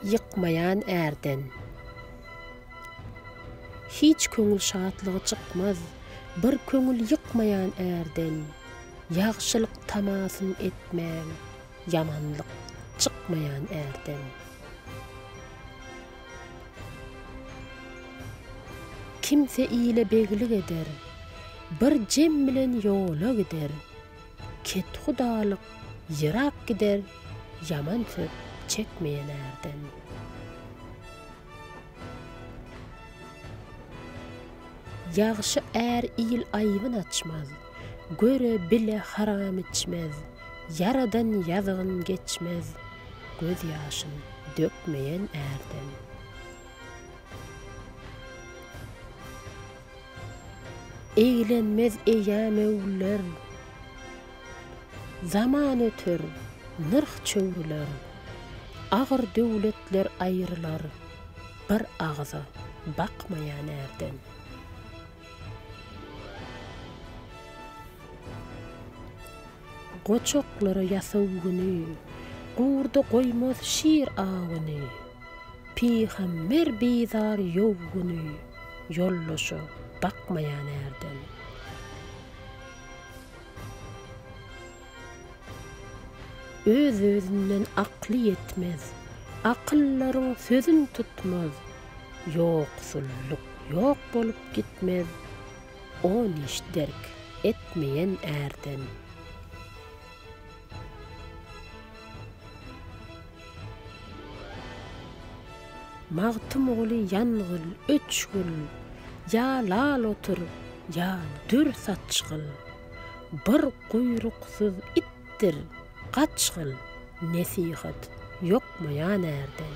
Ýykmaýan ärden Hiç köňül şatlygy çykmaz, Bir köňül ýykmaýan ärden. Ýagşylyk tamasyn etmäň, Ýamanlyk çykmaýan ärden. Kimse ile beglik eder, Bir jem bilen ýola gider. Kethudalyk ýyrak gider ýaman söz çekmeýän ärden. Ýagşy är il aýybyn açmaz, göre bile haram içmez, ýaradan ýazygyn geçmez, göz ýaşyn dökmeýän ärden. Eýlenmez eýýam öwrüler. Zaman öter, nyrh çöwrüler. Agyr döwletler aýrylar. Bir agyza bakmaýan ärden. Goçaklara ýasaw güni. Gurda goýmaz şir awuny. Pygamber bizar ýow güni. Ýoldaşa bakmaýan ärden. Öz-özünden akly ýetmez. Akyllaryň sözün tutmaz. Ýoksullyk ýok bolup gitmez. On iş derk etmeýen ärden. Magtymguly ýangyl, öçgül, ýa lal otur, ýa dür saçgyl, Bir guýruksyz itdir, gaçgyl, nesihat ýokmaýan ärden.